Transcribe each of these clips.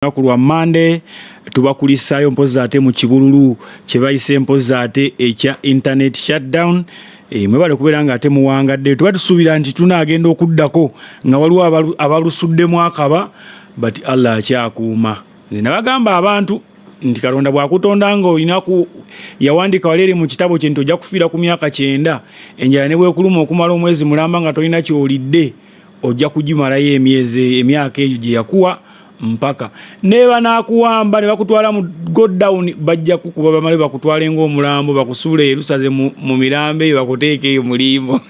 lunaku lwa mande tubakulisaayo mpozi ate mu kibululu kyebayise mpozi ate ekya internet shutdown e, mwebale kubeera nga ate muwangadde tuba tusuubira nti tunaagenda okuddako nga waliwo abalusuddemu akaba but allah akyakuuma nze nabagamba abantu nti katonda bwakutonda nga olinaku yawandika wali eri mu kitabo kye nti ojja kufiira ku myaka kyenda enjala ne bwekuluma okumala omwezi mulamba nga tolina kyolidde ojja kugimalayo emyezi emyaka egyo gye yakuwa mpaka neba nakuwamba ne bakutwala mu go down bajja kukuba bamale bakutwale ng'omulambo bakusuule erusaze mu, mu mirambo eyo bakuteeka eyo mu limbo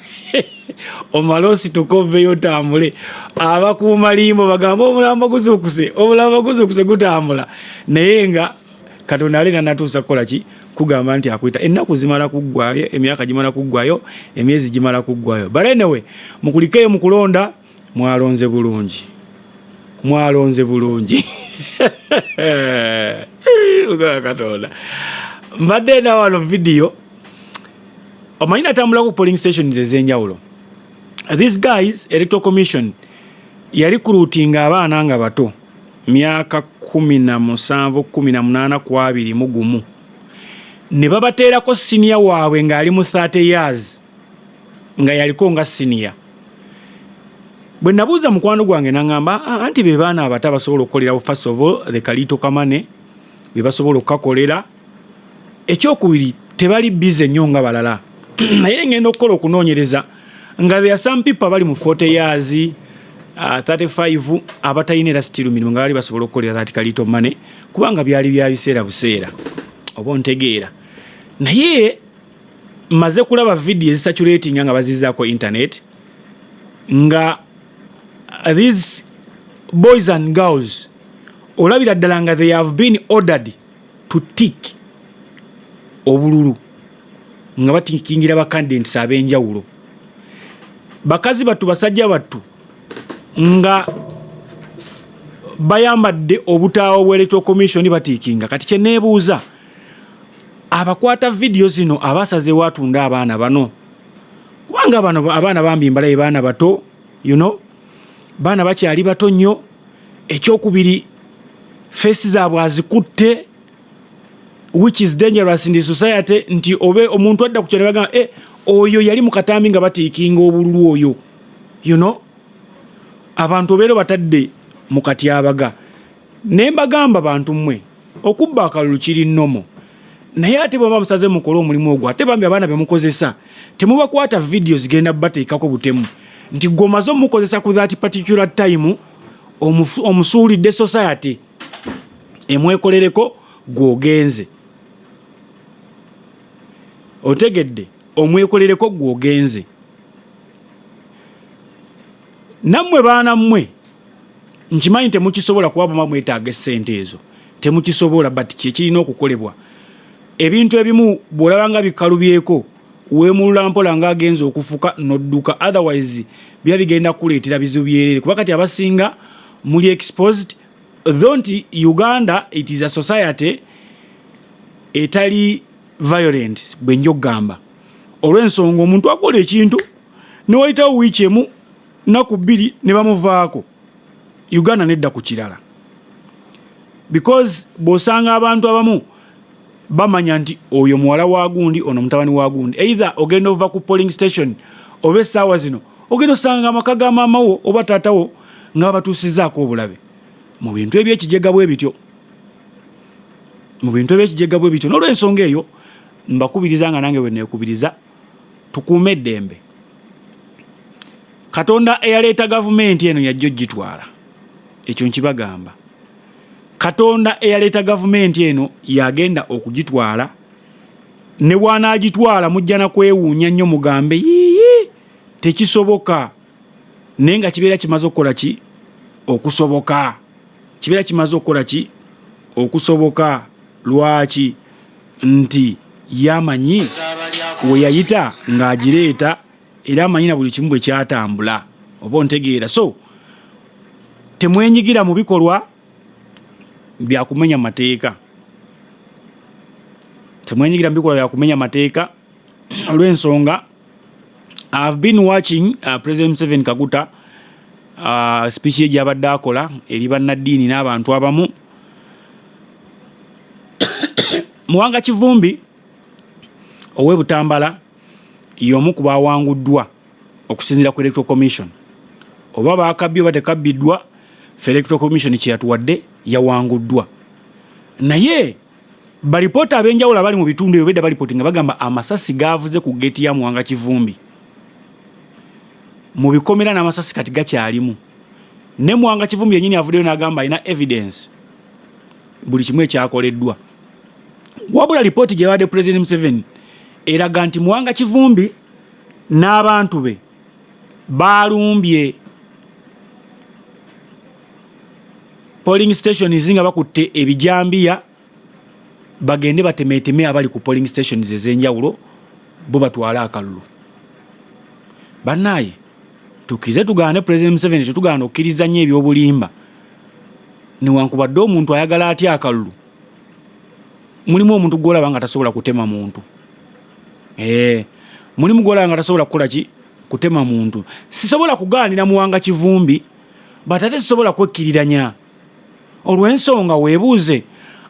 omale osituka oveyo otambule abakuuma limbo bagamba omulambo guzuukuse omulambo guzuukuse gutambula naye nga katonda ali nanatuusa kukola ki kugamba nti akuyita ennaku zimala kuggwayo emyaka gimala kuggwayo emyezi gimala kuggwayo but anyway mukulikeyo mu kulonda mwalonze bulungi mwalonze bulungi katonda mbadde nawano vidiyo omanyi natambula ku polling stations ezenjawulo these guys electoral commission yali kulutinga abaana nga bato myaka kumi na musanvu kumi na munaana ku abiri mu gumu ne babateerako siniya waabwe ng'ali mu 30 years nga yaliko nga siniya bwe nabuuza mukwano gwange naŋamba ah, anti be baana abato abasobola okukolerawo first of all the kaliito kamane be basobola okukakolera ekyokubiri tebali bize nnyo nga balala naye ngenda okukola okunoonyereza nga there are some people abali mu 40 years uh, 35 abatalina era sitiru mirimu nga bali basobola okukolera that kalito money kubanga byali bya biseera buseera oba ontegeera naye maze kulaba vidiyo ezisaturatinga nga bazizaako internet nga uh, these boys and girls olabira ddala nga they have been ordered to tick obululu nga batikingira bakandidents ab'enjawulo bakazi battu basajja battu nga bayambadde obutaawo bwa electoral commission batiikinga kati kyeneebuuza abakwata vidiyo zino abasazeewo atunda abaana bano kubanga bano abaana bambi mbalaye baana bato you know baana bakyali bato nnyo ekyokubiri feesi zaabwe azikutte which is dangerous in the society nti obe omuntu adda ku kyalebagamba e eh, oyo yali mu katambi nga batiikinga obululu oyo you know abantu obeera batadde mu katyabaga ne mbagamba bantu mmwe okubba akalulu kiri nomo naye ate bwaba musaze mukole omulimu ogwo ate bambi abaana bemukozesa temubakwata vidiyo zigenda bateekako butemu nti gwe omaze omukozesa ku that particular time omusuulidde society emwekolereko gwogenze otegedde omwekolereko gwogenze nammwe baana mmwe nkimanyi temukisobola kuba buma mwetaaga essente ezo temukisobola but kyekirina okukolebwa ebintu ebimu bw'olaba nga bikalubyeko weemulula mpola nga agenza okufuka n'odduka otherwise biba bigenda kukuleetera bizibu byereere kuba kati abasinga muli exposed though nti uganda it is a society etali violent bwe nja okugamba olw'ensonga omuntu akola ekintu ne wayitawo wiiki emu naku bbiri ne bamuvaako uganda nedda ku kirala because bw'osanga abantu abamu bamanya nti oyo muwala wa gundi ono mutabani wa gundi either ogenda ova ku polling station oba essaawa zino ogenda osanga amaka ga maama wo oba taata wo nga babatuusizaako obulabe mu bintu ebyekijega bwe bityo mu bintu ebyekijega bwe bityo n'olwensonga eyo mbakubiriza nga nange bwe neekubiriza tukuume eddembe katonda eyaleeta gavumenti eno yajja ogitwala ekyo nkibagamba katonda eyaleeta gavumenti eno yagenda okugitwala ne wanaagitwala mujja na kwewuunya nnyo mugambe yiyi tekisoboka naye nga kibeera kimaze okukola ki okusoboka kibeera kimaze okukola ki okusoboka lwaki nti ye amanyi we yayita ng'agireeta era amanyi na buli kimu bwe kyatambula oba ontegeera so temwenyigira mu bikolwa byakumenya mateeka temwenyigira mu bikolwa byakumenya mateeka olw'ensonga I have been watching uh, President Museveni Kaguta uh, speech ye gyabadde akola eri bannaddiini n'abantu abamu Muwanga Kivumbi ow'e Butambala y'omu ku baawanguddwa okusinziira ku Electoral Commission oba baakabbye oba tekabbiddwa fe Electoral Commission kye yatuwadde yawanguddwa naye Balipoota ab'enjawulo abali mu bitundu ebyo bedda balipooti nga bagamba amasasi gaavuze ku ggeeti ya Muwanga Kivumbi mu bikomera n'amasasi kati gakyalimu ne Muwanga Kivumbi yennyini avuddeyo n'agamba alina evidence buli kimu ekyakoleddwa wabula lipooti gye bawadde Pulezidenti Museveni eraga nti Muwanga Kivumbi n'abantu be baalumbye polling stations nga bakutte ebijambiya bagende batemeeteme abali ku polling stations ez'enjawulo bo batwale akalulu bannaaye tukize tugaane president museveni tetugaana okukkiriza nnyo ebyobulimba newankubadde omuntu ayagala atya akalulu mulimu omuntu gwolaba nga tasobola kutema muntu eh, mulimu gwolaba nga tasobola kukola ki kutema muntu sisobola kugaanira muwanga kivumbi but ate sisobola kwekkiriranya olw'ensonga weebuuze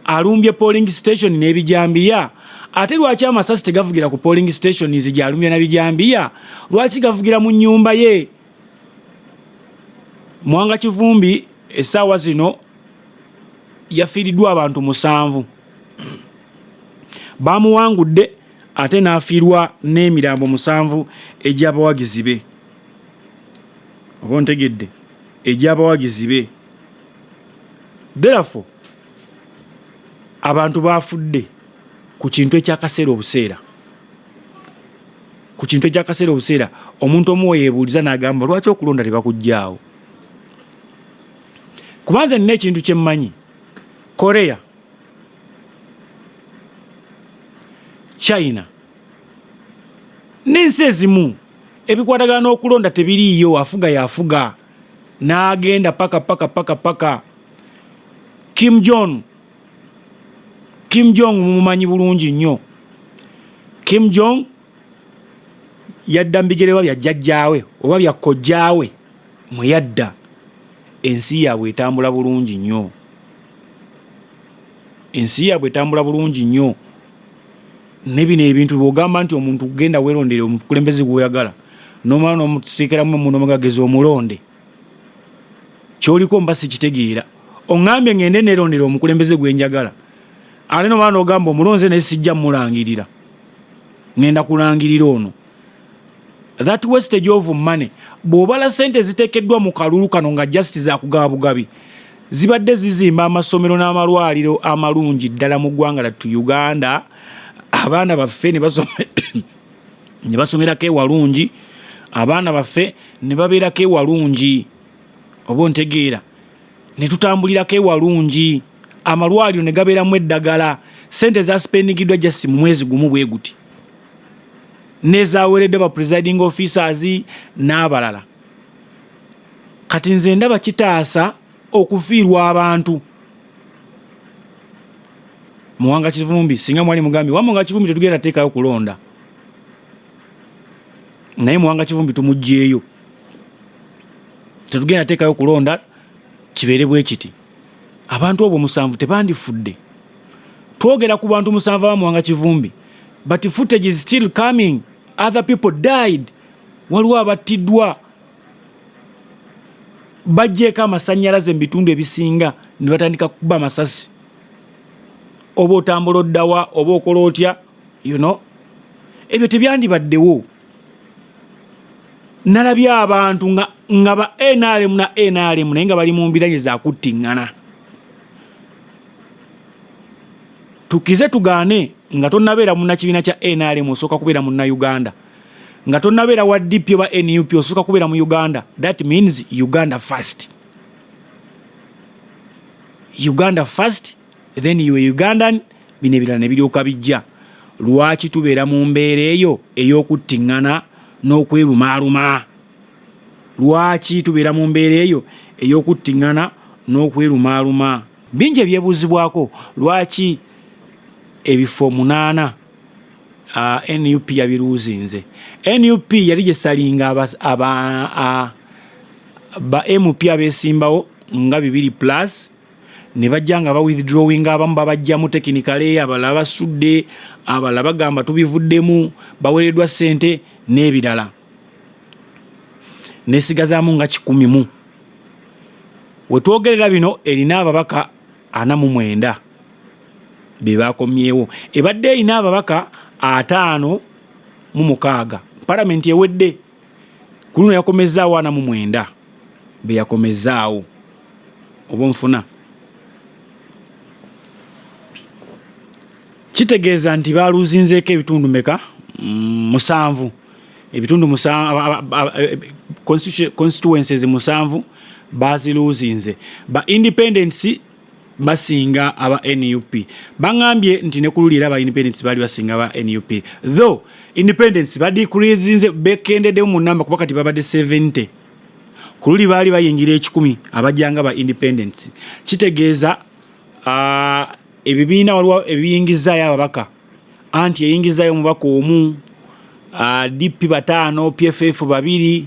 alumbye polling station n'ebijambiya ate lwaki amasasi tegavugira ku polling stations gyalumya na bijambiya lwaki gavugira mu nyumba ye Mwanga Kivumbi essaawa zino yafiiriddwa abantu musanvu baamuwangudde ate n'afiirwa n'emirambo musanvu egy'abawagizi be oba ontegedde egy'abawagizi be therefore abantu baafudde ku kintu ekyakaseera obuseera ku kintu ekyakaseera obuseera omuntu omu weyebuuliza n'agamba lwaki okulonda tebakuggyaawo kuba nze nina ekintu kye mmanyi korea china n'ensi ezimu ebikwatagana n'okulonda tebiriiyo afuga yafuga n'agenda paka paka paka paka kim john Kim Jong mumumanyi bulungi nnyo. Kim Jong yadda mu bigereba bya jjajjaawe oba bya kojjaawe mwe yadda. Ensi yaabwe etambula bulungi nnyo. Ensi yaabwe etambula bulungi nnyo. Ne bino ebintu bw'ogamba nti omuntu genda weerondere omukulembeze gw'oyagala n'omala n'omuteekeramu emmundu omugagezi omulonde. kyoliko mba sikitegeera oŋambye ngende nerondera omukulembeze gwenjagala ate noba nogamba omulonze naye sijja mulangirira ngenda kulangirira ono that wastage of money bwobala sente zitekeddwa mu kalulu kano nga just zakugaba bugabi zibadde zizimba amasomero n'amalwaliro amalungi ddala mu ggwanga lattu uganda abaana baffe ne basome ne basomerako ewalungi abaana baffe ne babeerako ewalungi oba ontegeera ne tutambulirako ewalungi amalwaliro ne gabeeramu eddagala sente zaspendigiddwa just mu mwezi gumu bwe guti nezaweereddwa ba presiding officers n'abalala kati nze ndaba kitaasa okufiirwa abantu muwanga kivumbi singa mwali mugambi wamwe nga kivumbi tetugenda teekayo kulonda naye muwanga kivumbi tumugyeyo tetugenda teekayo kulonda kibeere bwe kiti abantu obwo musanvu tebandifudde twogera ku bantu musanvu abamuwanga kivumbi but footage is still coming other people died waliwo abattiddwa bajjeeko amasanyalaze mu bitundu ebisinga ne batandika kukuba amasasi oba otambula oddawa oba okola otya you know ebyo tebyandibaddewo nalabye abantu nga nga ba nrm na nrm naye nga bali mu mbiranye zakuttiŋŋana tukize tugaane nga tonabeera munakibiina kya nrm osooka kubeera munnauganda nga tonabeera wa DP oba NUP osooka kubeera mu Uganda. That means Uganda first. Uganda first then you Ugandan bino ebirala ne biryoka bijja. Lwaki tubeera mu mbeera eyo ey'okuttingana n'okwerumaaluma? Lwaki tubeera mu mbeera eyo ey'okuttingana n'okwerumaaluma? Bingi ebyebuuzibwako lwaki ebifo munaana uh, nup yabiruuzinze nup yali gyesalinga aba, aba uh, ba mp abesimbawo nga bibiri plus ne bajja nga ba withdrawing abamu babajjamu tekinikale abalala basudde abalala bagamba tubivuddemu bawereddwa sente n'ebirala nesigazaamu nga kikumi mu wetwogerera bino erina ababaka ana mu mwenda be baakomyewo ebadde erina ababaka ataano mu mukaaga palamenti ewedde ku luno yakomezzaawo ana mu mwenda be yakomezzaawo oba onfuna kitegeeza nti baaluzinzeeko ebitundu meka mm, musanvu ebitundu constituencies musanvu baziluzinze ba independents basinga aba nup bangambye nti nekululi era aba independence baali basinga aba nup though independence badikurizinze bekendeddemu mu namba kuba kati babadde 70 ku luli baali bayingira ekikumi abajanga ba independence kitegeeza uh, ebibiina waliwo ebiyingizaayo ababaka anti eyingizaayo omubaka omu uh, dp bataano pff babiri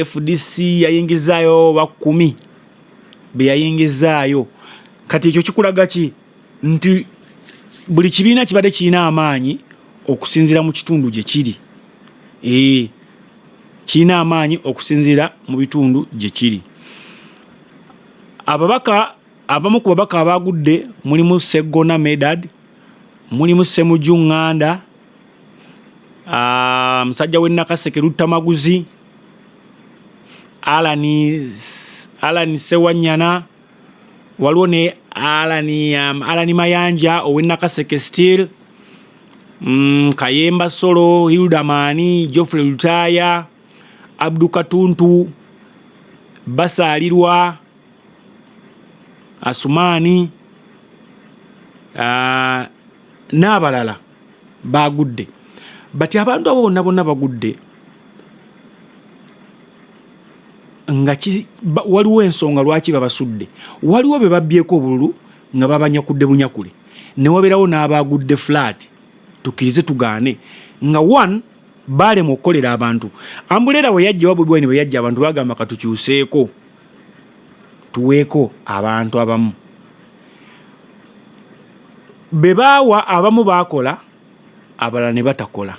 fdc yayingizaayo bakumi be yayingizzaayo kati ekyo kikulaga ki nti buli kibiina kibadde kirina amaanyi okusinziira mu kitundu gye kiri ee eh, kirina amaanyi okusinziira mu bitundu gye kiri ababaka abamu ku babaka abaagudde mulimu seggona medad mulimu semuju nganda ah, musajja w'e Nakaseke Luttamaguzi, Alani Alani Sewanyana, waliwo ne Alani um, Alani Mayanja ow'e Nakaseke Steel, mm, Kayemba Solo, Hilda Maani, Geoffrey Lutaaya, Abdu Katuntu, Basaalirwa, Asumaani uh, n'abalala. baagudde bati abantu abo bonna bonna bagudde nga waliwo ensonga lwaki babasudde waliwo be babbyeko obululu nga babanyakudde bunyakule ne wabeerawo n'abaagudde fulaati tukkirize tugaane nga one baalema okukolera abantu ambuleera bwe yajja oba bwebwaine bwe yajja abantu bagamba katukyuseeko tuweeko abantu abamu be baawa abamu baakola abalala ne batakola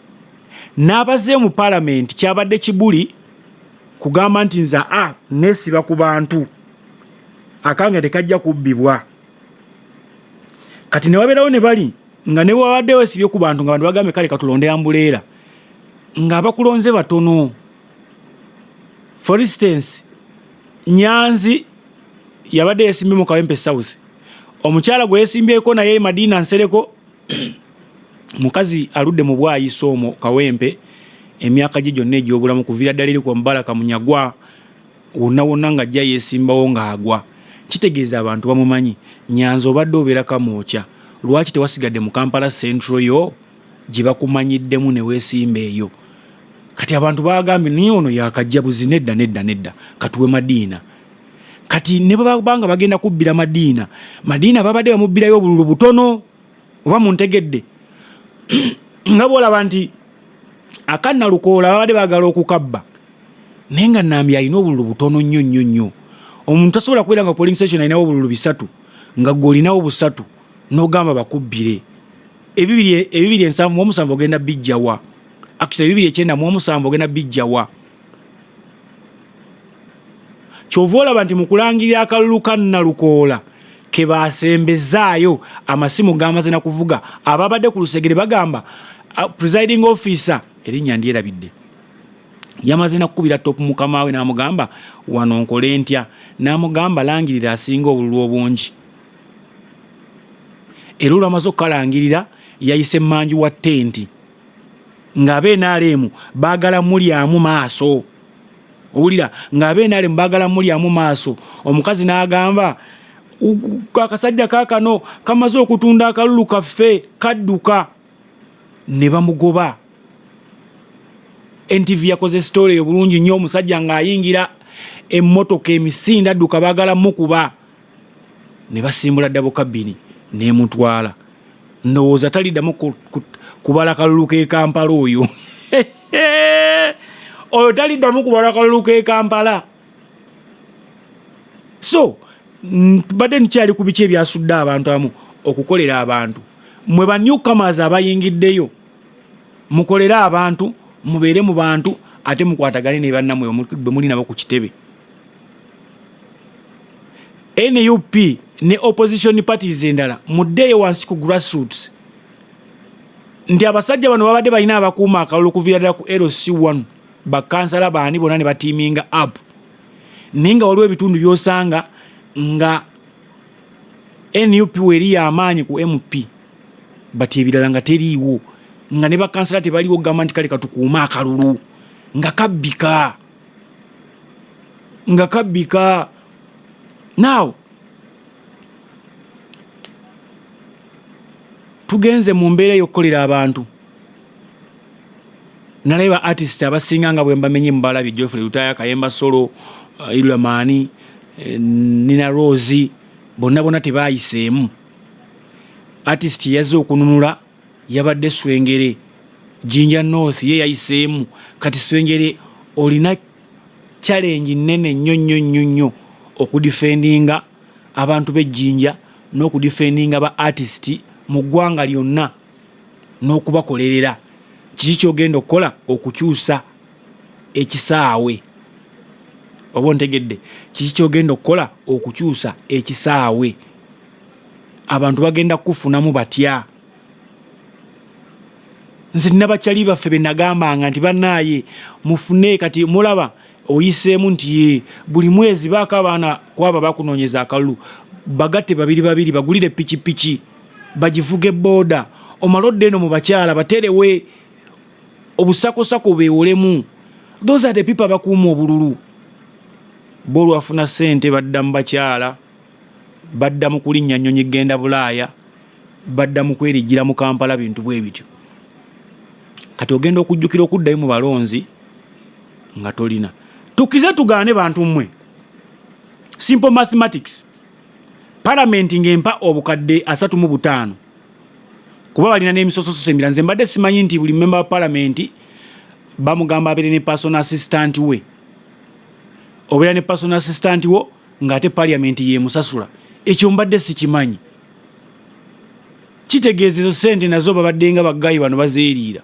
n'abaze mu palamenti kyabadde kibuli kugamba nti nze a nesiba ku bantu akange tekajja kubbibwa kati ne wabeerawo ne bali nga ne bwewabadde wesibye ku bantu nga bantu bagambye kale katulonde ambuleera ng'abakulonze batono for instance nyanzi yabadde yesimbye mu Kawempe South. Omukyala gwe yesimbyeko naye e Madina Nsereko mukazi aludde mu bwayisa omwo Kawempe emyaka gye gyonna egy'obulamu kuviira ddala eri ku Mubaraka Munyagwa wonna wonna nga ajja yeesimbawo ng'agwa. Kitegeeza abantu bamumanyi. Nyanzi obadde obeera Kamwokya, lwaki tewasigadde mu Kampala Central yo gye bakumanyiddemu ne weesimba eyo? Kati abantu baagambye naye ono yaakajja buzi. Nedda, nedda, nedda, katuwe Madiina. kati ne baba nga bagenda kubbira madiina madiina babadde bamubbirayo obululu butono oba muntegedde nga bwolaba nti akanna lukoola babadde bagala okukabba naye nga nambi alina obululu butono nnyo nnyo nnyo omuntu tasobola kubeera nga polling station alinawo obululu bisatu nga gwe olinawo busatu nogamba bakubbire ebibiri ensanvu muomusanvu ogenda bijjawa actually ebibiri ekyenda muomusanvu ogenda bijjawa kyova olaba nti mu kulangirira akalulu ka nnalukoola ke baasembezaayo amasimu gaamaze na kuvuga ababadde ku lusegere bagamba uh, presiding officer erinnya ndyerabidde yamaze nakukubira topu mukama we n'amugamba wano nkole ntya n'amugamba langirira asinga obululu obungi era olwamaze okukalangirira yayise manji wa tenti ng'aba enaalemu baagala mulyamu maaso owulira ng'aba enaalemu baagala mulyamu maaso omukazi n'agamba akasajja kaakano kamaze okutunda akalulu kaffe kadduka ne bamugoba ntv yakoze sitole eyo bulungi nnyo omusajja ng'ayingira emmotoka emisinde adduka baagala mukuba ne basimbula dabo kabini nemutwala ndowooza talidamu kubala kalulu ke kampala oyo oyo talidamu kubala kalulu ke kampala so mbadde nkyali ku biki ebyasudde abantu amu okukolera abantu mwe banyukamas abayingiddeyo mukolere abantu mubeere mu bantu ate mukwatagane ne bannamwe bwe muli nabo ku kitebe nup ne opposition parties endala muddeeyo wansi ku grassroots nti abasajja bano babadde balina abakuuma akalulu okuviira ddala ku lc 1 bakansala baani bona ne batiiminga app naye nga waliwo ebitundu byosanga nga nup weeri yamaanyi ku mp but ebirala nga teriiwo nga ne bakansala tebaliwo kugamba nti kale katukuume akalulu nga kabbika nga kabbika now tugenze mu mbeera ey'okukolera abantu nalaye ba artist abasinga nga bwembamenye mubalabye jofrey lutaya kayemba solo uh, ilamani eh, nina rosi bonna bona tebayiseemu Artist yazze okununula yabadde Swengere, Jinja North ye yayiseemu. Kati Swengere olina challenge nnene nnyo nnyo nnyo nnyo okudifendinga abantu b'e Jinja n'okudifendinga ba artist mu ggwanga lyonna n'okubakolerera. Kiki ky'ogenda okukola okukyusa? ekisaawe oba ontegedde kiki kyogenda okukola okukyusa ekisaawe abantu bagenda kukufunamu batya nze nabakyali baffe benagambanga nti banaaye mufune kati mulaba oyiseemu nti buli mwezi baako abaana kwaba bakunoonyeza akalulu bagatte babiri babiri bagulire pikipiki bagivuge booda omala odde eno mu bakyala baterewe obusakosako bewolemu those are the people abakuuma obululu bo olwafuna sente badda mu bakyala badda mu kulinnya nnyonyi genda bulaaya badda mu kwerijjira mu kampala bintu bwe bityo kati ogenda okujjukira okuddayo mu balonzi nga tolina tukize tugaane bantu mmwe simple mathematics palamenti ng'empa obukadde asatu mu butaano kuba balina n'emisososo emirala nze mbadde simanyi nti buli memba wa palamenti bamugamba abeere ne person assistant we obeera ne person assistant wo ng'ate paliamenti yemusasula ekyo mbadde sikimanyi kitegeeza ezo sente nazo babaddenga baggayi bano bazeeriira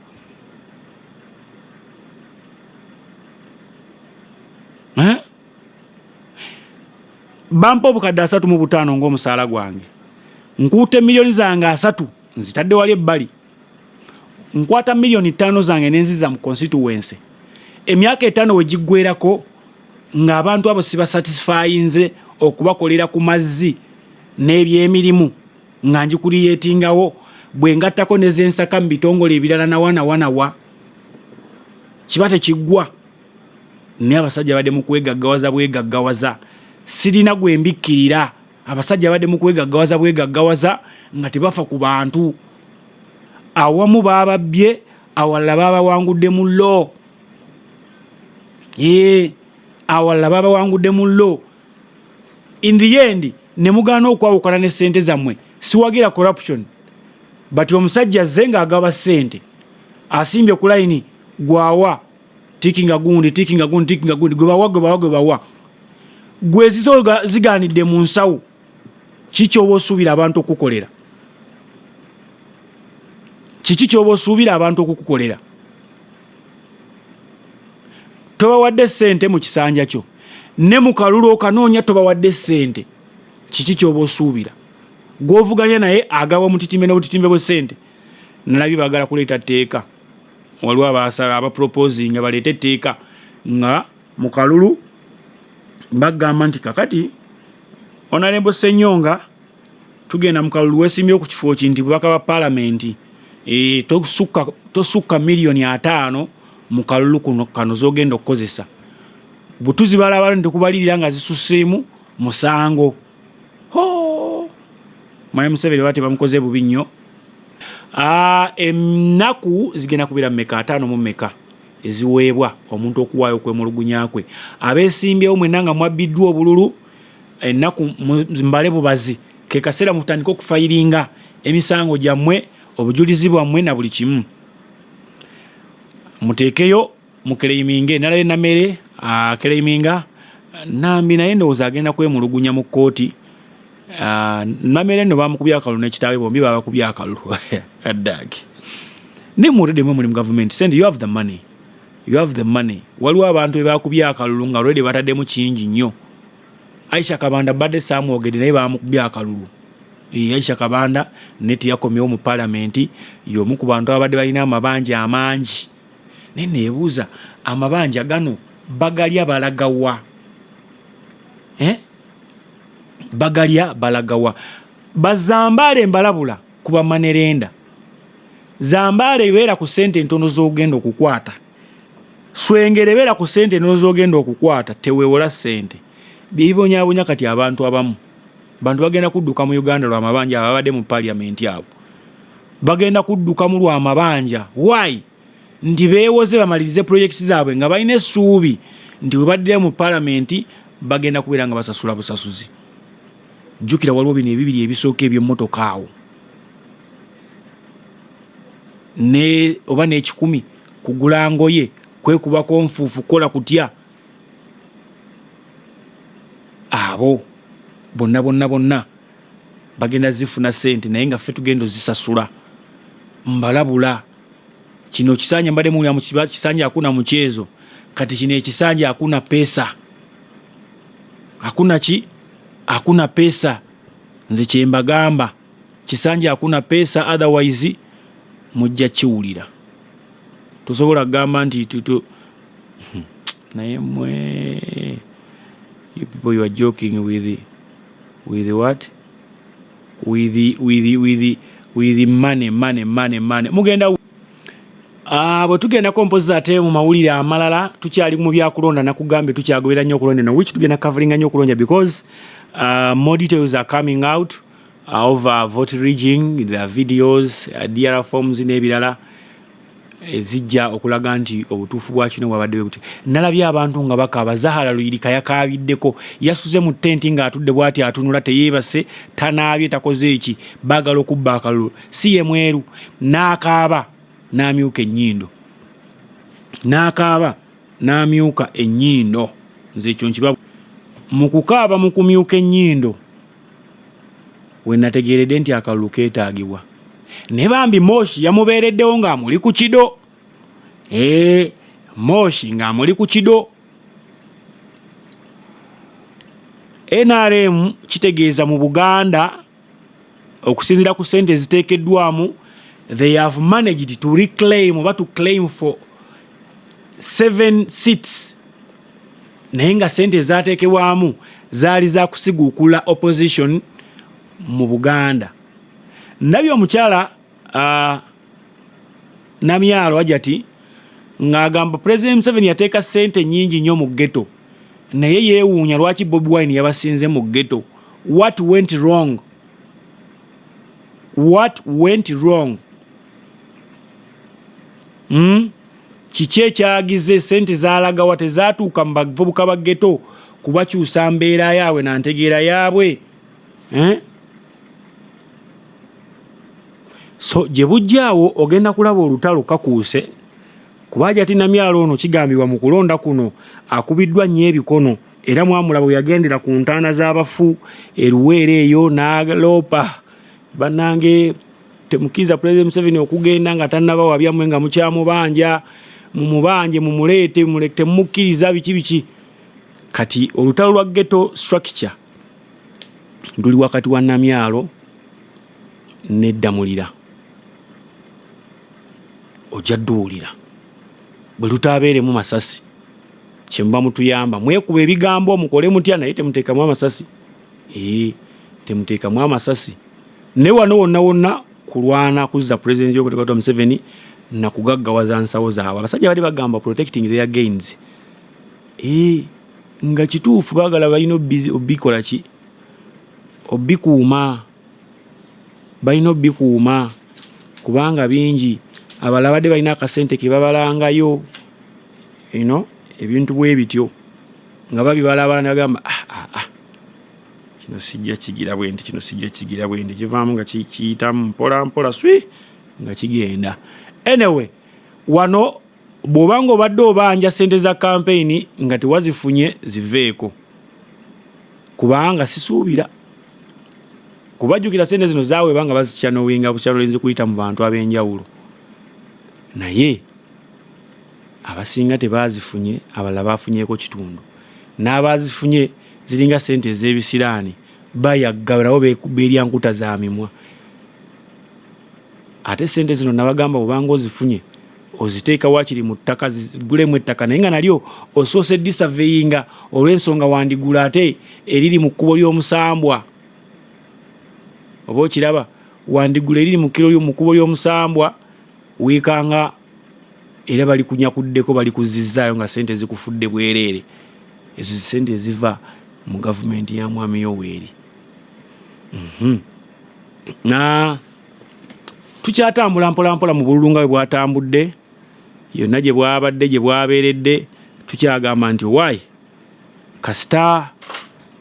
bampa obukadde asatu mu butaano ng'omusaala gwange nkuuta emiliyoni zange asatu nzitadde wali ebbali nkwata miliyoni ttaano zange nenziza mu constituency emyaka etaano we giggwerako ng'abantu abo sibasatisfayinze okubakolera ku mazzi n'ebyemirimu nga njikuli yeetingawo bwe ngattako nezensaka mu bitongole ebirala nawanawanawa kiba tekiggwa naye abasajja badde mu kwegaggawaza bwegaggawaza sirina gwe mbikkirira abasajja badde mu kwegaggawaza bwegaggawaza nga tebafa ku bantu awamu baababbye awalala baabawangudde mu lo ee awalala baabawangudde mu lo in the end ne mugaana okwawukana ne ssente zammwe siwagira corruption but omusajja azze ng'agaba ssente asimbye ku layini gwawa tikinga gundi tikinga gundi tikinga gundi gwe bawa gwe bawa gwe bawa gwe zizo ziganidde mu nsawo kiki oba osuubira abantu okukukolera kiki kyoba osuubira abantu okukukolera tobawadde sente mu kisanja kyo ne mu kalulu okanoonya tobawadde sente kiki kyoba osuubira gwovuganya naye agawa omutitimbe n'obutitimbe bwe sente nalabye bagala kuleeta tteeka waliwo abasala abaproposinga baleete etteeka nga mu kalulu bagamba nti kakati onalembo senyonga tugenda mu kalulu wesimbye ku kifo ki nti bubaka bwa palamenti e, tosukka tosukka miliyoni ataano mu kalulu kuno kano zogenda okukozesa butuzi balaba nti kubalirira nga zisuseemu musango hoo mwami museveni bati bamukoze bubi nnyo ah, ennaku zigenda kubeera mumeka ataano mu meka eziweebwa omuntu okuwaayo okwemulugunya kwe abeesimbyewo mwena nga mwabbiddwa obululu ennaku mbale bubazi ke kaseera mutandike okufayiringa emisango gyammwe obujulizi bwammwe na buli kimu muteekeyo mukeleiminge nalabe namere akeleiminga ah, nambi naye ndowooza agenda kwemulugunya mu kkooti ah, namere no bamukubya akalulu nekitaawe bombi babakubya akalulu dag naye muredemu muli mu gavumenti sente you have the money you have the money waliwo abantu bebakubya akalulu nga redi bataddemu kingi nnyo aisha kabanda badde samwogede naye bamukubya akalulu eh, aisha kabanda naye teyakomyewo mu palamenti yomu ku bantu ababadde balina amabanja amangi naye nebuuza amabanja gano bagalya balagawa eh? bagalya balagawa bazambaale mbalabula ku bamanerenda zambaale ebeera ku sente entono zogenda okukwata swengere ebeera ku sente entono zogenda okukwata tewewola sente byebibonyabonya kati abantu abamu bantu bagenda kudduka mu uganda lwamabanja ababadde mu paliamenti abo bagenda kuddukamu lwa mabanja why nti beewoze bamalirize pulojekiti zaabwe nga balina essuubi nti bwe baddira mu palamenti bagenda kubeera nga basasula busasuzi jjukira waliwo bino ebibiri ebisooka ebyemmotoka awo ne oba n'ekikumi kugula ngoye kwekubako nfuufu kukola kutya abo bonna bonna bonna bagenda zifuna sente naye nga ffe tugenda ozisasula mbalabula kino kisanja mbadde muwulira mu kisanja akuna mukyezo kati kino ekisanja akuna pesa akuna ki akuna pesa nze kyembagamba kisanja akuna pesa otherwise mujja kiwulira tosobola kugamba nti tuto hmm, naye mwe you people you are joking with it. with what with with with with money money money money mugenda ah, bwe tugendako mpozi ate mu mawulire amalala tukyali mu byakulonda nakugambye tukyagobera nnyo okulonda no which tugenda coveringa nnyo okulonda because uh, more details are coming out uh, over vote rigging the videos uh, dr forms n'ebirala ezijja okulaga nti obutuufu bwa kino bwabadde bwe buti nalabye abantu nga bakaaba zahara luyirika yakaabiddeko yasuze mu tenti ng'atudde bwati atunula teyeebase tanaabye takoze eki baagala okubba akalulu si ye mweru n'akaaba n'amyuka ennyindo n'akaaba n'amyuka ennyindo nze ekyo nkiba mu kukaaba mu kumyuka ennyindo we nategeeredde nti akalulu keetaagibwa ne bambi moshi yamubeereddewo ng'amuli ku kido ee moshi ng'amuli ku kido nrm kitegeeza mu buganda okusinzira ku sente eziteekeddwamu they have managed to reclaim oba to claim for seven seats naye nga sente ezatekebwamu zaali za kusiguukula opposition mu buganda ndabye omukyala uh, namyalo ajati ng'agamba president museveni yateeka sente nyingi nnyo mu geto naye yeewuunya lwaki bobi wine yabasinze mu geto what went wrong what went wrong mm? Kiki ekyagize sente zalagawa tezatuuka mu bavubuka ba ghetto kubakyusa mbeera yaabwe na ntegeera yaabwe eh? so gye bujjaawo ogenda kulaba olutalo kakuuse kuba ajati namyalo ono kigambibwa mu kulonda kuno akubiddwa nnyo ebikono era mwamulabo yagendera ku ntaana z'abafu eruweera eyo n'aloopa bannange Temukiza President Museveni okugenda nga tanaba wabya mwe nga mukyamu banja mu mubanje mu mulete mulete mukiriza biki biki kati olutalo lwa ghetto structure nduli wakati wa namyalo ne damulira ojja duulira bwe lutabeere mu masasi kyemba mutuyamba mwekuba ebigambo mukole mutya naye temutekamu amasasi ee eh, temutekamu amasasi ne wano wonna wonna kulwana kuzza pulezidenti yokutekatwa museveni nakugaggawaza nsawo zaabwe abasajja bali bagamba protecting their gains ee eh, nga kituufu bagala balina obikola ki obikuuma balina obikuuma kubanga bingi abala badde balina akasente kebabalangayo ino ebintu bwe bityo nga babibalabala nagamba ah, ah, ah. kino sijja kigira bwe nti kino sijja kigira bwe nti kivaamu nga kiyitamu mpola mpola swi nga kigenda anyway wano bw'oba nga obadde obanja sente za kampeyini nga tewazifunye ziveeko kubanga sisuubira kubajjukira sente zino zaweeba nga bazikyanoinga bukyanolinzi kuyita mu bantu ab'enjawulo naye abasinga tebaazifunye abalala baafunyeeko kitundu n'abaazifunye ziringa ssente ez'ebisiraani bayagga nabo beekubba erya nkuta za mimwa ate ssente zino nabagamba bwobanga ozifunye oziteeka wakiri mu ttaka zigulemu ettaka naye nga nalyo osoose disaveyinga olw'ensonga wandigula ate eriri mu kkubo ly'omusambwa oba okiraba wandigula eriri mu kkubo ly'omusambwa wiikanga era balikunyakuddeko balikuzzizzaayo nga ssente zikufudde bwereere ezo ssente eziva mu gavumenti ya mwami yoweeri mhm. na tukyatambula mpolampola mu bululu nga bwe bwatambudde yonna gye bwabadde gye bwabeeredde tukyagamba nti owaayi kasita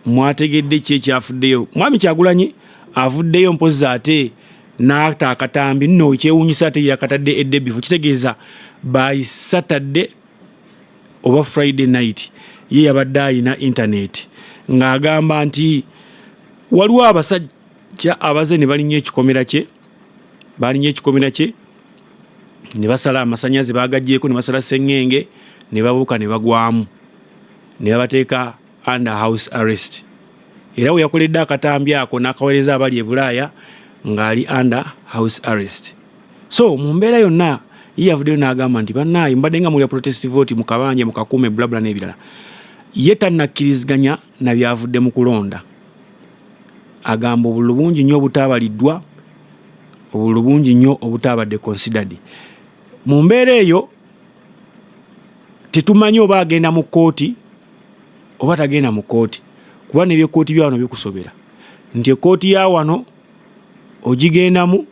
mwategedde ki ekyafuddeyo mwami kyagulanyi avuddeyo mpozi ate n'ata akatambi nno ekyewuunyisa ate yakatadde eddebifu kitegeeza by saturday oba friday night ye yabadde alina intaneti ng'agamba nti waliwo abasajja abaze ne balinnya ekikomera kye balinnya ekikomera kye ne basala amasanyaze baagagyeko ne basala seŋŋenge ne babuuka ne bagwamu ne babateeka under house arrest era we yakoledde akatambi ako n'akaweereza abali e bulaaya ng'ali under house arrest so mu mbeera yonna ye yavuddeyo n'agamba nti bannaayi mbadde nga mulya protest vote mukabanje mukakuume bulabula n'ebirala ye tannakkiriziganya na byavudde mu kulonda agamba obululu bungi nnyo obutaabaliddwa obululu bungi nnyo obutaabadde considered mu mbeera eyo tetumanyi oba agenda mu kkooti oba tagenda mu kkooti kuba nebyekkooti byawano bikusobera nti ekkooti ya wano ogigendamu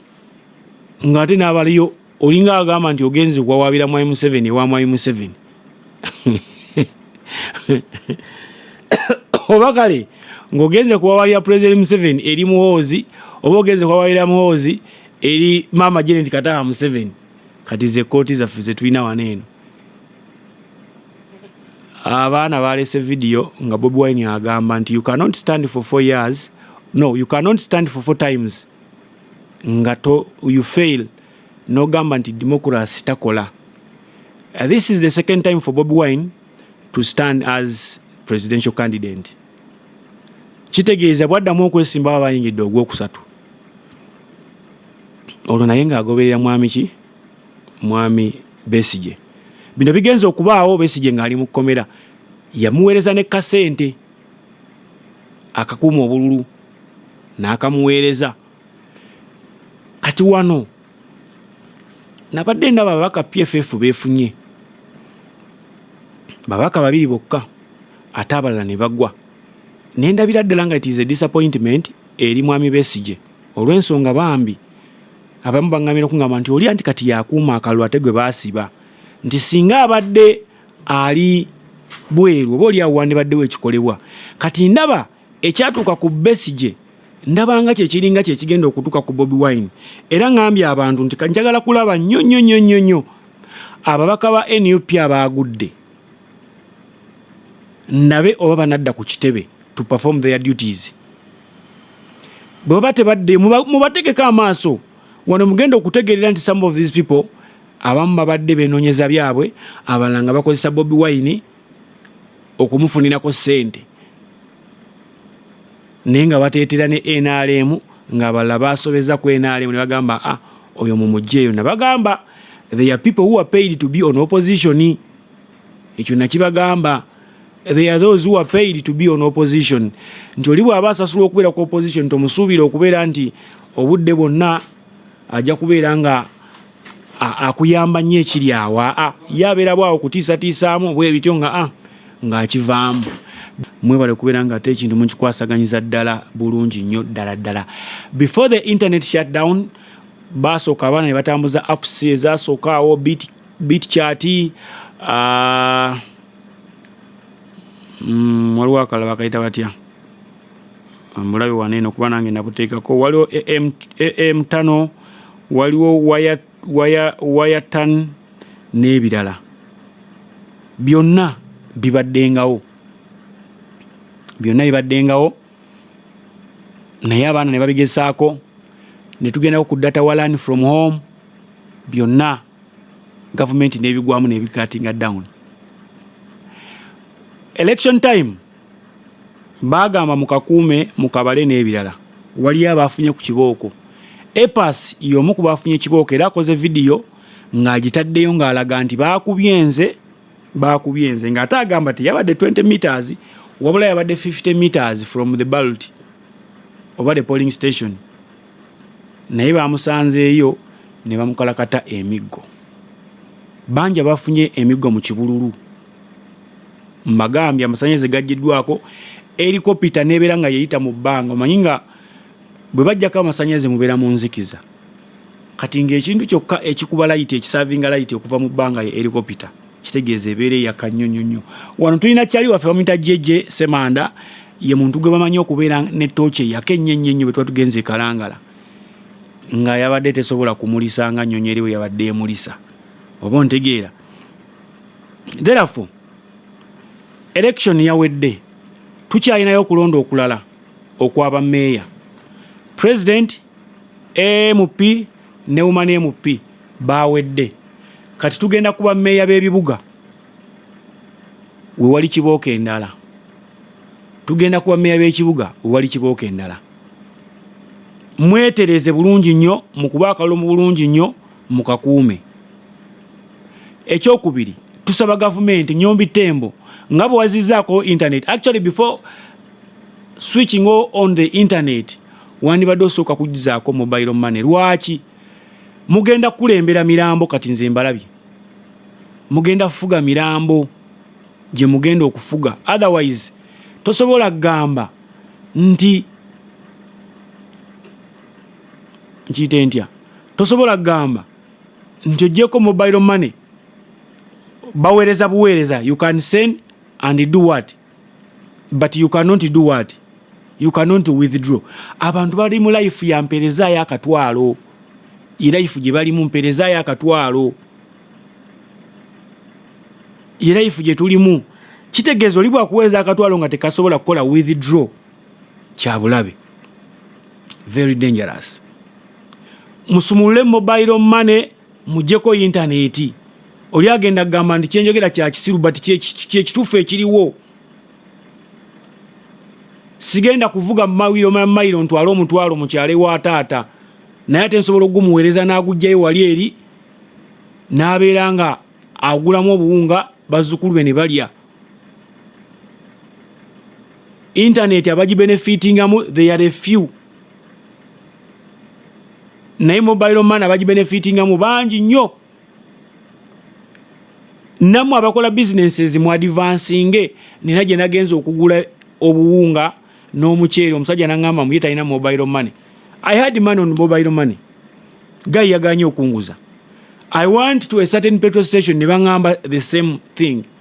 ng'ate n'abaliyo olinga agamba nti ogenze okuwawaabira mwai museveni ewa mwai museveni oba kale ng'ogenze kuwawaabira pulezidenti museveni eri muhoozi oba ogenze kuwawaabira muhoozi eri maama jeneti kataha museveni kati ze kkooti zaffe ze tulina wano eno abaana balese video nga bobi wine agamba nti you cannot stand for four years no you cannot stand for four times nga to you fail nogamba nti democracy takola uh, this is the second time for bobi wine to stand as presidential candidate kitegeeza bwaddamu okwesimbawo abayingidde ogwokusatu olwo naye ng'agoberera mwami ki mwami Besigye. Bino bigenze okubaawo Besigye ng'ali mu kkomera yamuweereza ne kasente akakuuma obululu n'akamuweereza kati wano nabadde ndaba ababaka pff beefunye babaka babiri bokka ate abalala ne bagwa nendabira ddala nga it is a disappointment eri mwami besigye olw'ensonga bambi abamu baŋŋamira okuŋŋamba nti oli anti kati yakuuma akalulu ate gwe baasiba nti singa abadde ali bweru oba oli awo wandibaddewo ekikolebwa kati ndaba ekyatuuka ku besigye ndabanga kyekiringa kyekigenda okutuuka ku bobi wine era ŋambye abantu nti njagala kulaba nnyo nnyo nnyo nnyo nnyo ababaka ba nup abaagudde ndabe oba banadda ku kitebe to perform their duties bwe baba tebaddeyo mubategeko amaaso wano mugenda okutegeerera nti some of these people abamu babadde benoonyeza byabwe abalala nga bakozesa bobi wine okumufunirako ssente naye nga bateetera ne nrm ng'abalala baasobeza ku nrm ne bagamba a ah, oyo mu mugyeeyo nabagamba they are people who are paid to be on opposition ekyo nakibagamba they are those who are paid to be on opposition nti oli bwaba asasulwa okubeera ku opposition tomusuubira okubeera nti obudde bwonna ajja kubeera nga akuyamba nnyo ekiri awo aa ye abeera bwawo kutiisatiisaamu bwe bityo nga a ng'akivaamu mwebale okubeera nga ate ekintu mukikwasaganyiza ddala bulungi nnyo ddala ddala before the internet shutdown baasooka abaana ne batambuza apps ezasookaawo bitcoin bitchat ah, mm, waliwo akala bakayita batya mulabe wano eno kuba nange nabuteekako waliwo am tano waliwo wayatan n'ebirala byonna bibaddengawo byonna bibaddengawo naye abaana ne babigezaako ne tugendako ku data walan from home byonna gavumenti n'ebigwamu n'ebikatinga down election time baagamba mukakuume mukabale n'ebirala waliyo abaafunye ku kibooko epas y'omu ku baafunye ekibooko era akoze vidiyo ng'agitaddeyo ng'alaga nti baakubye nze baakubye nze ng'ate agamba teyabadde 20 meters wabula yabadde 50 meters from the ballot oba the polling station naye baamusanzeeyo ne bamukalakata emiggo bangi abafunye emiggo mu kibululu mbagambye amasanyalaze gaggiddwako erikopita neebeera nga yeyita mu bbanga omanyi nga bwe bajjako amasannyalaze mubeera mu nzikiza kati ng'ekintu kyokka ekikuba layiti ekisavinga layiti okuva mu bbanga ye erikopita kitegeeza ebeera eyaka nnyo nnyo nnyo wano tulina kyali waffe bamuyita jeje semanda ye muntu gwe bamanyi okubeera ne tooki eyaka ennyo ennyo ennyo bwe tuba tugenze ekalangala nga yabadde tesobola kumulisa nga nnyonyo eriwe yabadde emulisa oba ontegeera therefore election yawedde tukyalinayo okulonda okulala okwa ba meeya president amp ne woman amp bawedde kati tugenda kuba meeya b'ebibuga wewali kibooko endala tugenda kuba meeya b'ekibuga wewali kibooko endala mwetereze bulungi nnyo mu kuba akalulu mu bulungi nnyo mukakuume ekyokubiri tusaba gavumenti nyombi tembo nga bwewazizaako internet actually before switching on the internet wandibadde osooka kujzaako mobile money lwaki mugenda kukulembera mirambo kati nze mbalabye mugenda kufuga mirambo gye mugenda okufuga otherwise tosobola kugamba nti nkiyite ntya tosobola kugamba nti ojjeko mobile money baweereza buweereza you can send and do what but you cannot do what you cannot withdraw abantu bali mu life ya mpereza ya katwalo ye life gye bali mu mpereza ya katwalo ye life gye tulimu kitegeeza oli bwakuweereza akatwalo nga tekasobola kukola withdraw kyabulabe very dangerous musumulule mobile money mujeko yintaneti oli agenda kugamba nti kyenjogera kyakisiru but kyekituufu ekiriwo sigenda kuvuga mumawiro mamayiro ntwale omutwalo mukyale wa taata naye ate nsobola okugumuweereza n'agugjayo wali eri n'abeera nga agulamu obuwunga bazzukulu be ne balya intaneti abagibenefitingamu they are a few naye mobile man abagibenefitinga mu bangi nnyo namwe abakola businesses mu advansinge nina gye nagenza okugula obuwunga n'omuceere omusajja nangamba muye talina mobile money i had money on mobile money guy yaganye okunguza i want to a certain petrol station ne bangamba the same thing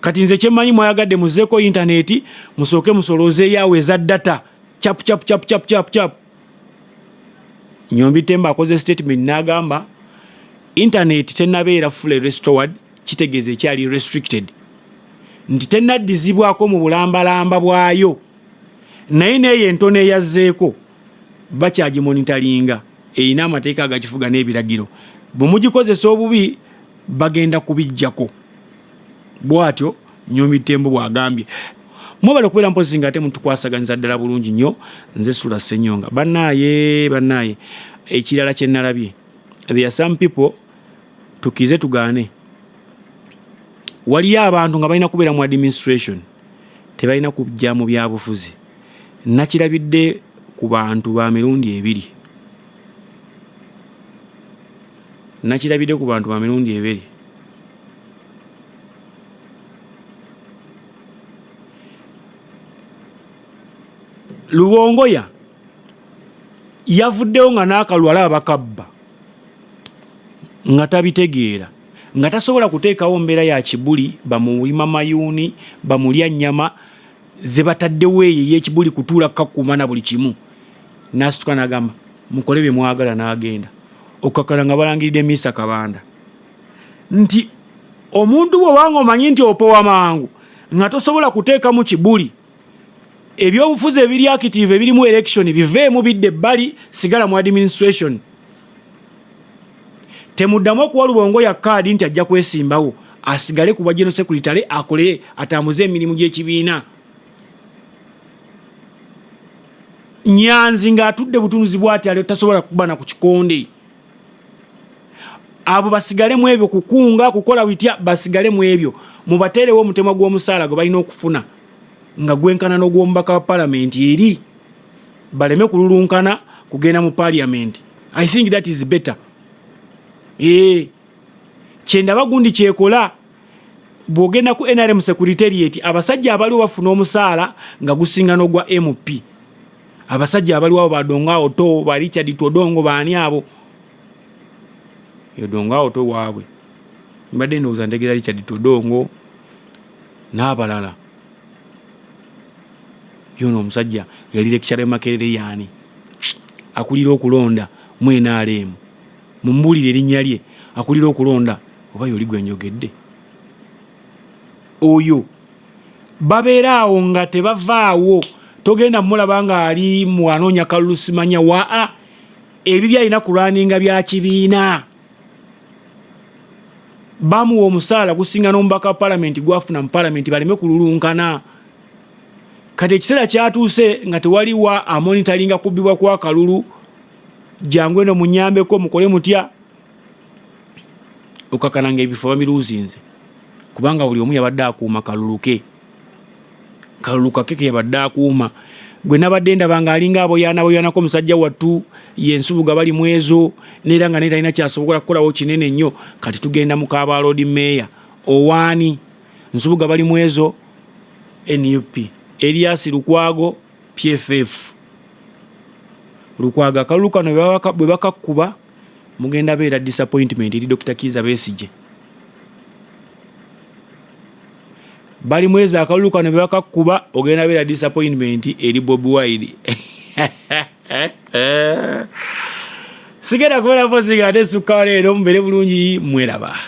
kati nze kyemmanyi mwayagadde muzeeko intaneti musooke musolooze yaawe eza data cap cap cap cap cap cap nyombi temba akoze statement n'agamba intaneti tenabeera fully restored kitegeeza ekyali restricted nti tenaddizibwako mu bulambalamba bwayo naye neeyo entono eyazzeeko bakyagimonitalinga erina amateeka agakifuga n'ebiragiro bwe mugikozesa obubi bagenda kubijjako bwatyo nyomi tembo bwagambye mwebale okubeera mpozi nga ate mutukwasaganyiza ddala bulungi nnyo nze sula senyonga banaaye banaaye ekirala kyenalabye there are some people tukize tugaane waliyo abantu nga balina kubeera mu administration tebalina kujja mu byabufuzi nakirabidde ku bantu ba mirundi ebiri Nakirabidde ku bantu ba mirundi ebiri. Lubongoya yavuddewo nga n'akalulu alaba bakabba nga tabitegeera nga tasobola kuteekawo mbeera ya kibuli bamulima mayuuni bamulya nnyama ze bataddewo eyo eyekibuli kutuula kukakuuma na buli kimu nasituka nagamba mukole bye mwagala n'agenda okukakana nga balangiridde miisa kabanda nti omuntu bwewanga omanyi nti opowa mangu nga tosobola kuteekamu kibuli ebyobufuzi ebiri active ebirimu election biveemu bidde ebbali sigala mu administration temuddamu okuwa lubongo ya kaadi nti ajja kwesimbawo asigale ku bwajeno sekuritale akole atambuze emirimu gy'ekibiina nyanzi ng'atudde butunuzi bwati ali tasobola kubana ku kikonde abo basigale mu ebyo kukunga kukola bitya basigale mu ebyo mubateerewo omutemwa gw'omusaala gwe balina okufuna nga gwenkana n'ogw'omubaka wa palamenti eri baleme kululunkana kugenda mu parliament i think that is better ee kyendaba gundi kyekola bwogenda ku nrm securitariat abasajja abaliwo bafuna omusaala nga gusinga nogwa mp abasajja abaliwo abo badongo awo to ba richard twodongo baani abo yodongo awo to waabwe mbadde ndowooza ntegeera richard twodongo n'abalala yono omusajja yali lekishara makerere yani akulira okulonda mu nrm mumbuulire erinnya lye akulira okulonda oba yoli gwe njogedde oyo babeera awo nga tebavaawo togenda mulaba nga ali mu anoonya kalulu simanya waa ebi byalina kulwaninga bya kibiina bamuwa omusaala gusinga n'omubaka wa palamenti gwafuna mu palamenti baleme kululunkana kati ekiseera kyatuuse nga tewaliwa amonitalinga kubbibwa kwa kalulu jangu eno munyambeko mukole mutya okakananga ebifo bamiruuzinze kubanga buli omu yabadde akuuma kaluluke kalulu kake keyabadde akuuma gwe nabadde ndaba nga alinga aboyaanaboyaanako musajja wattu ye ensubuga bali mu ezo neera nga naye talina kyasobola kukolawo kinene nnyo kati tugenda mu kaaba loodi meeya owaani nsubuga bali mu ezo nup eliasi lukwago pff lukwago akalulu kano bwe bakakkuba mugenda beera disappointment eri dokita kiiza besigye balimu ezo akalulu kano bebakakkuba ogenda beera disappointment eri bobi wide sigenda kubera mpozi nga ate sukka leero mubere bulungi mweraba